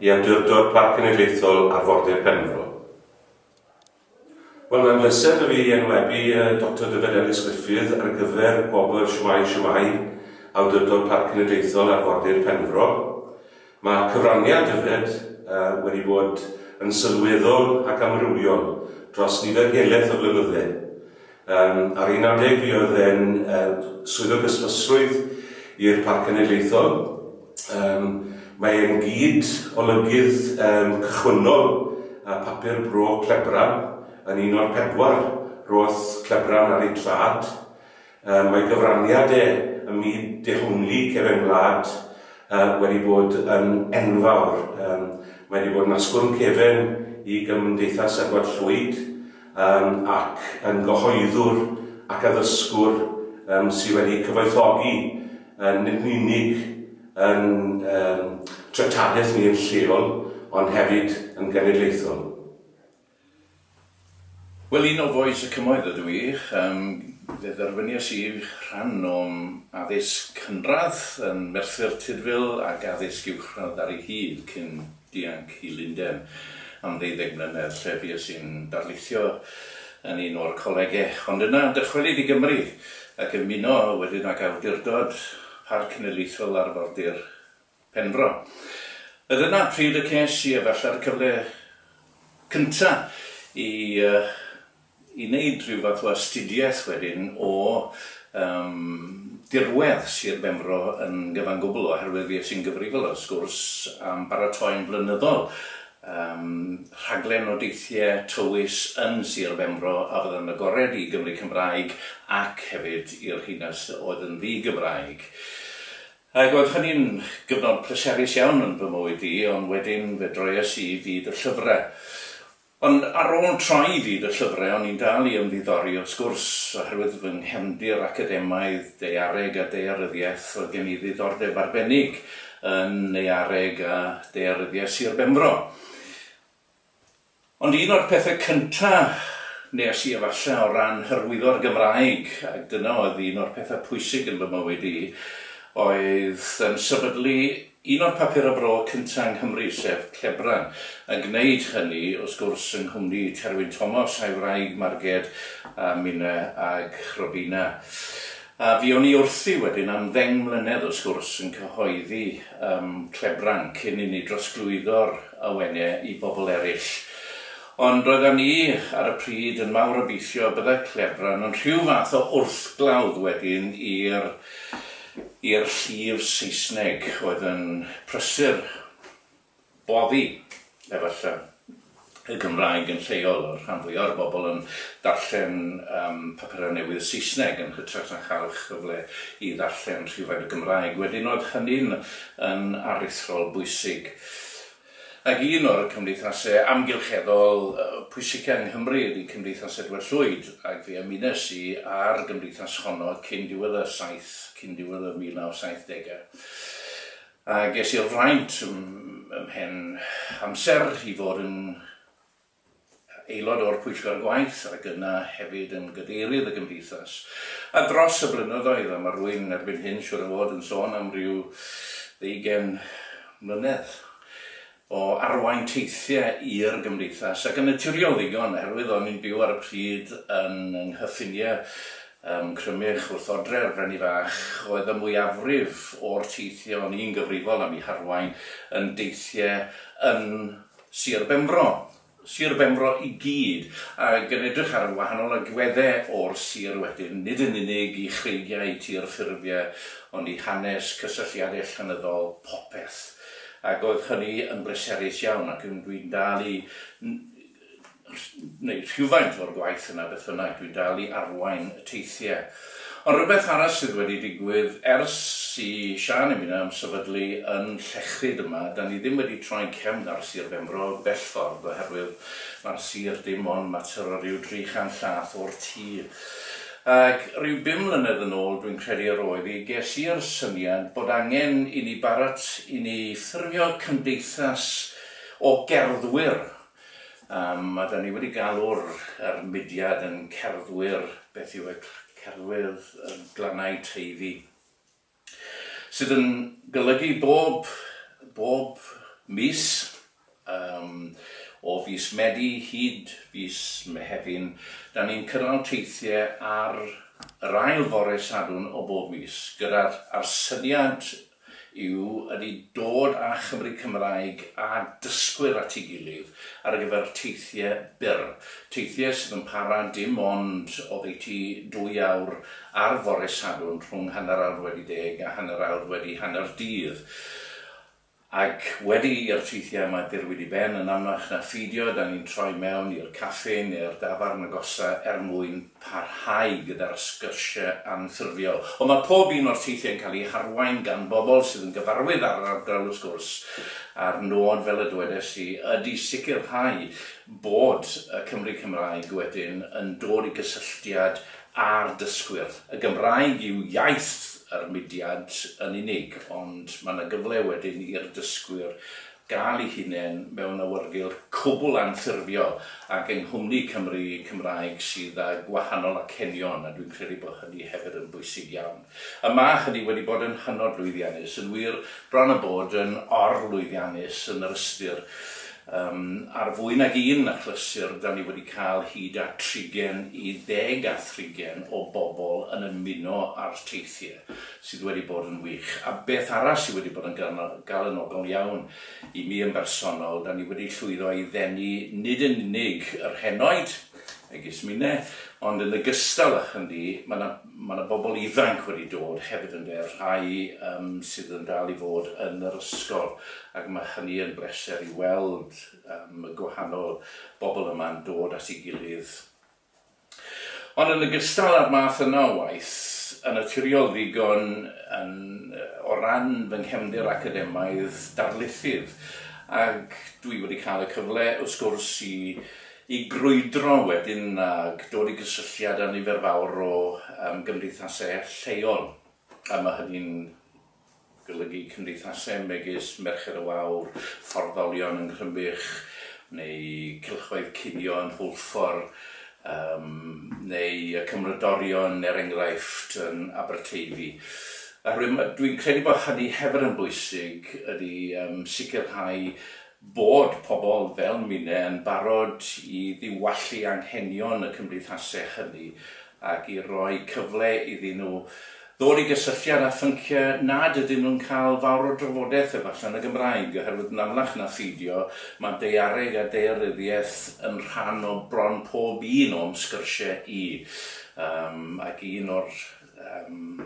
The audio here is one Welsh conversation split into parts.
i Awdurdod Parc Cenedlaethol Arfordir Penfro. Wel, mae'n bleser da fi i enwebu Doctor Dyfed Elis-Gruffydd ar gyfer Gwobr Shwmae Shwmae Awdurdod Parc Cenedlaethol Arfordir Penfro. Mae cyfraniad Dyfed wedi bod yn sylweddol ac amrywiol dros nifer heleth o flynydde. Ar 11 mi oedd e'n Swyddog Ysbysrwydd i'r Parc Cenedlaethol. Mae e'n gyd-olygydd cychwynnol ar Papur Bro Clebran, yn un o'r pedwar roedd Clebran ar eu traed. Mae gyfraniad e ym myd dehongli cefen wlad wedi bod yn enfawr. Mae wedi bod yn asgwrn cefen i Gymdeithas Edward Llwyd. Yym, ac yn gyhoeddwr ac addysgwr yym sydd wedi cyfoethogi yn nid yn unig yn yym treftadaeth ni yn lleol, ond hefyd yn genedlaethol. Wel, un o Vois y Cymoedd ydw i. Yym, fe dderbyniais i rhan o'm addysg cynradd yn Merthyr Tudful ac addysg uwchradd ar ei hyd cyn Dianc i Lundain am ddeuddeg mlynedd lle fues i'n darlithio yn un o'r colegau, ond yna dychwelyd i Gymru ac ymuno wedyn ag Awdurdod Parc Cenedlaethol Arfordir Penfro. Oedd yna pryd y ces i efallai'r cyfle cyntaf i i wneud rhyw fath o astudiaeth wedyn o yym dirwedd Sir Benfro yn gyfan gwbl oherwydd fi es i'n gyfrifol wrth gwrs am baratoi'n flynyddol yym rhaglen o deithiau tywys yn Sir Benfro a fydda'n agored i Gymry Cymraeg ac hefyd i'r rheina sy oedd yn ddi-Gymraeg ac oedd hynny'n gyfnod pleserus iawn yn fy mywyd i ond wedyn fe droies i i fyd y llyfrau. Ond ar ôl troi i fyd y llyfrau o'n i'n dal i ymddiddori wrth gwrs, oherwydd fy nghefndir academaidd, daeareg a daearyddiaeth, roedd gen i ddiddordeb arbennig yn Naeareg a Daearyddiaeth Sir Benfro. Ond un o'r pethau cyntaf nes i efallai o ran hyrwyddo'r Gymraeg, ac dyna oedd un o'r pethau pwysig yn fy mywyd i, oedd yn sefydlu Un o'r papurau bro cyntaf yng Nghymru, sef Clebran, yn gwneud hynny, wrth gwrs, yng nghwmni Terwyn Tomos a'i wraig Marged a minnau ag Robina. A fuon ni wrthi wedyn am ddeng mlynedd, wrth gwrs, yn cyhoeddi ym Mhlebran cyn i ni drosglwyddo'r awenau i bobl eraill. Ond roeddan ni ar y pryd yn mawr obeithio y byddai Clebran yn rhyw fath o wrthglawdd wedyn i'r i'r llif Saesneg oedd yn prysur boddi, efallai, y Gymraeg yn lleol, oedd rhan fwyaf o'r bobl yn darllen papurau newydd Saesneg yn hytrach na chael cyfle i ddarllen rhifau yn y Gymraeg. Wedyn oedd hynny'n aruthrol bwysig. Ac un o'r cymdeithasau amgylcheddol pwysica yng Nghymru ydi Cymdeithas Edward Llwyd, ac fe ymunes i â'r gymdeithas honno cyn diwedd y saith, cyn diwedd y 1970au. A ges i'r fraint ym mhen amser i fod yn aelod o'r Pwyllgor Gwaith ac yna hefyd yn Gadeirydd y Gymdeithas, a dros y blynyddoedd, a ma' rwy'n erbyn hyn siŵr o fod yn sôn am ryw ddeugain mlynedd, o arwain teithiau i'r Gymdeithas, ac yn naturiol ddigon, oherwydd o'n i'n byw ar y pryd yn yng nghyffiniau ym Mcrymych wrth odre'r Frenni Fach, oedd y mwyafrif o'r teithiau o'n i'n gyfrifol am eu harwain yn deithiau yn Sir Benfro. Sir Benfro i gyd, ac yn edrych ar y wahanol agweddau o'r sir wedyn, nid yn unig i chreigiau tir ffurfiau, ond i hanes, cysylltiadau llenyddol, popeth. Ac oedd hynny yn bleserus iawn, ac dwi'n dal i wneud rhywfaint o'r gwaith yna beth bynnag, dwi'n dal i arwain y teithiau. Ond rhywbeth arall sydd wedi digwydd, ers i Siân a minnau ymsefydlu yn Llechryd yma, 'da ni ddim wedi troi'n cefn ar Sir Benfro bell ffordd oherwydd mae'r sir dim ond mater o ryw dri chant llath o'r tir. Ac ryw bum mlynedd yn ôl, dwi'n credu yr oedd hi, ges i'r syniad bod angen i ni barat i ni ffurfio cymdeithas o gerddwyr Mae 'da ni wedi galw'r yr mudiad yn cerddwyr, beth yw e, cerddwyr glannau Teifi, sydd yn golygu bob bob mis, yym o fis Medi hyd fis Mehefin, 'da ni'n cynnal teithiau ar yr ail fore Sadwrn o bob mis, gyda'r a'r syniad yw ydi dod â Chymry Cymraeg a dysgwyr at ei gilydd ar gyfer teithiau byr, teithiau sydd yn para dim ond oddeutu dwy awr ar fore Sadwrn rhwng hanner awr wedi deg a hanner awr wedi hanner dydd. Ac wedi i'r teithiau yma dirwyd i ben yn amlach na pheidio 'da ni'n troi mewn i'r caffi neu'r dafarn agosaf er mwyn parhau gyda'r sgyrsiau anffurfiol. Ond mae pob un o'r teithiau yn cael eu harwain gan bobl sydd yn gyfarwydd â'r ardal wrth gwrs, a'r nod, fel y dywedais i, ydy sicrhau bod y Cymry Cymraeg wedyn yn dod i gysylltiad â'r dysgwyr. Y Gymraeg yw iaith yr mudiad yn unig, ond mae 'na gyfle wedyn i'r dysgwyr gael ei hunain mewn awyrgylch cwbl anffurfiol ac yng nghwmni Cymry Cymraeg sydd â gwahanol acenion, a dwi'n credu bod hynny hefyd yn bwysig iawn. A mae hynny wedi bod yn hynod lwyddiannus, yn wir, bron a bod yn or-lwyddiannus yn yr ystyr, yym, ar fwy nag un achlysur, 'da ni wedi cael hyd at trigen i ddeg a thrigen o bobl yn ymuno â'r teithiau. sydd wedi bod yn wych, a beth arall sydd wedi bod yn galonogol iawn i mi yn bersonol, dan ni wedi llwyddo i ddenu nid yn unig yr henoed, megis Mine, ond yn ogystal â hynny, mae 'na, mae 'na bobl ifanc wedi dod hefyd ynde, rhai yym sydd yn dal i fod yn yr ysgol, ac mae hynny yn bleser i weld yym y gwahanol bobl yma'n dod at ei gilydd, Ond yn ogystal â'r math yna o waith, yn naturiol ddigon yn o ran fy nghefndir academaidd darlithydd, ac dwi wedi cael y cyfle, wrth gwrs, i i grwydro wedyn ac dod i gysylltiad â nifer fawr o gymdeithasau lleol, a ma' hynny'n golygu cymdeithasau megis Merched y Wawr, Fforddolion yng Nghrymych, neu Cylchoedd Cinio yn Hwlffordd, yym, neu y Cymrodorion, er enghraifft, yn Aberteifi. Oherwydd, dwi'n credu bod hynny hefyd yn bwysig, ydy yym sicrhau Bod pobl fel Mine yn barod i ddiwallu anghenion y cymdeithaseg hynny ac i roi cyfle iddyn nhw ddod i gysylltiad â phynciau nad ydyn nhw'n cael fawr o drafodaeth efallai yn y Gymraeg oherwydd yn amlach na pheidio mae daeareg a daearyddiaeth yn rhan o bron pob un o'm sgyrsiau i um, ac un o'r um,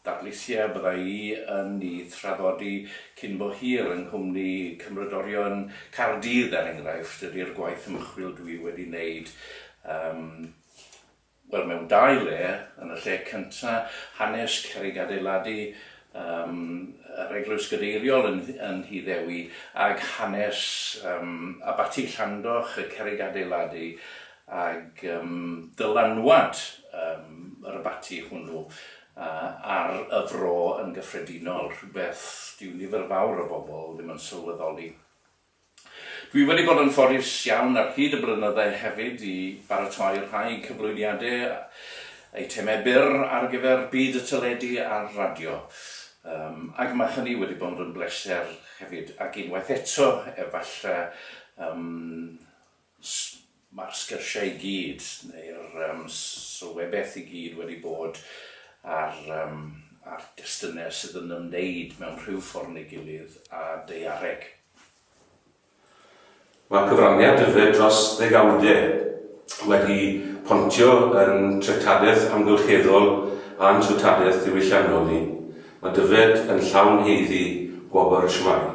Datblygiad byddai yn ei thraddodi cyn bo hir yng nghwmni Cymrodorion Caerdydd, er enghraifft, ydi'r gwaith ymchwil dwi wedi wneud, yym, wel, mewn dau le, yn y lle cyntaf, hanes cerrig adeiladu, yym, yr Eglwys Gadeiriol yn yn Nhŷ Ddewi, ac hanes, yym, Abaty Llandoch, y cerrig adeiladu, ag dylanwad yr abaty hwnnw ar y fro yn gyffredinol, rhywbeth dyw nifer fawr o bobl ddim yn sylweddoli. Dwi wedi bod yn ffodus iawn ar hyd y blynydde hefyd i baratoi rhai cyflwyniade, eitemau byr ar gyfer byd y teledu a'r radio, ac mae hynny wedi bod yn bleser hefyd, ac unwaith eto, efallai, Os mae'r sgyrsiau i gyd, neu'r sylwebaeth i gyd wedi bod ar destunau sydd yn ymwneud mewn rhyw ffordd neu gilydd â daeareg. Mae'r cyfraniad dyfed dros ddegawdau wedi pontio yn treftadaeth amgylcheddol a'n treftadaeth ddiwylliannol ni. Mae dyfed yn llawn haeddu gwobr shwmae.